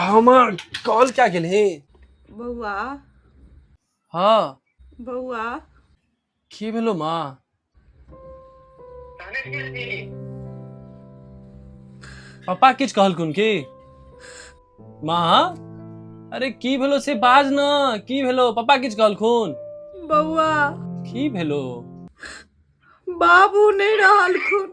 हमर कॉल क्या गेल हे बौआ हाँ बौआ की भेलो माँ पापा किछ कहलखुन की माँ अरे की भेलो से बाज न की भेलो पापा किछ कहलखुन बौआ की भेलो बाबू नहीं रहलखुन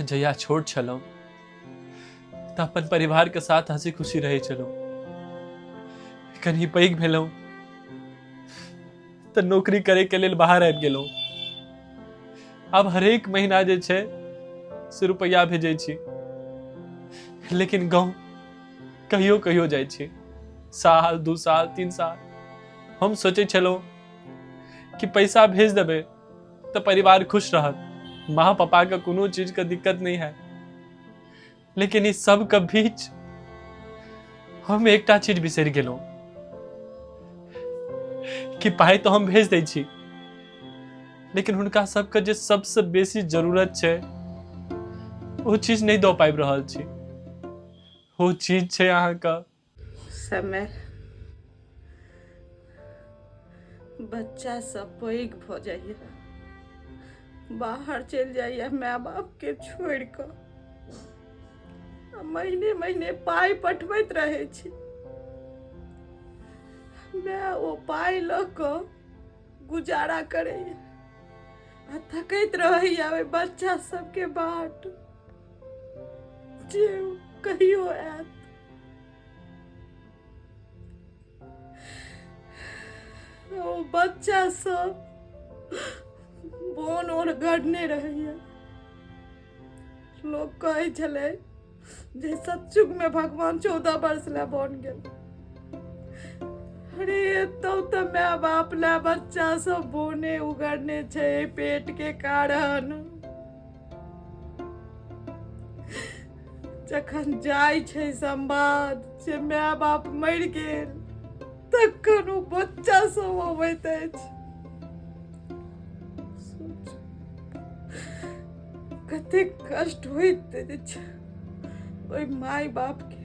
जहिया छोट छलहुँ तऽ अपन परिवारके साथ हँसी खुशी रहै छलहुँ कनि पैघ भेलहुँ तऽ नौकरी करैके लेल बाहर आबि गेलहुँ आब हरेक महीना जे छै से रुपैआ भेजै छी लेकिन गाँव कहियो कहियो जाइ छी साल दू साल तीन साल हम सोचै छलहुँ कि पैसा भेज देबै तो परिवार खुश रहत माँ पापा का कोनो चीज का दिक्कत नहीं है लेकिन इस सब का बीच हम एकटा चीज बिसर गेलो कि पाई तो हम भेज दै छी लेकिन हुनका सबके जे सबसे बेसी जरूरत छै ओ चीज नहीं दऽ पाबि रहल छी ओ चीज छै अहाँके समय बच्चा सब पैघ भऽ जाइए बाहर चलि जाइए माय बापके छोड़ि कऽ आ महीने महीने पाइ पठबैत रहै छी माय ओ पाइ लऽ कऽ गुजारा करैए आ थकैत रहैए ओहि बच्चा सबके बाट जे कहियो आयत ओ बच्चा सब बोन और गढ़ने रहैया लोग कहै छलै जे सच्चुक में भगवान चौदह वर्ष ला बन गेल अरे एतौ तऽ माय बाप ला बच्चा सब बोने उगड़ने छै पेट के कारण जखन जाइ छै संवाद जे माय बाप मरि गेल तखन ओ बच्चा सब अबैत अछि सोच, कतेक कष्ट होइत अछि ओहि माय बापके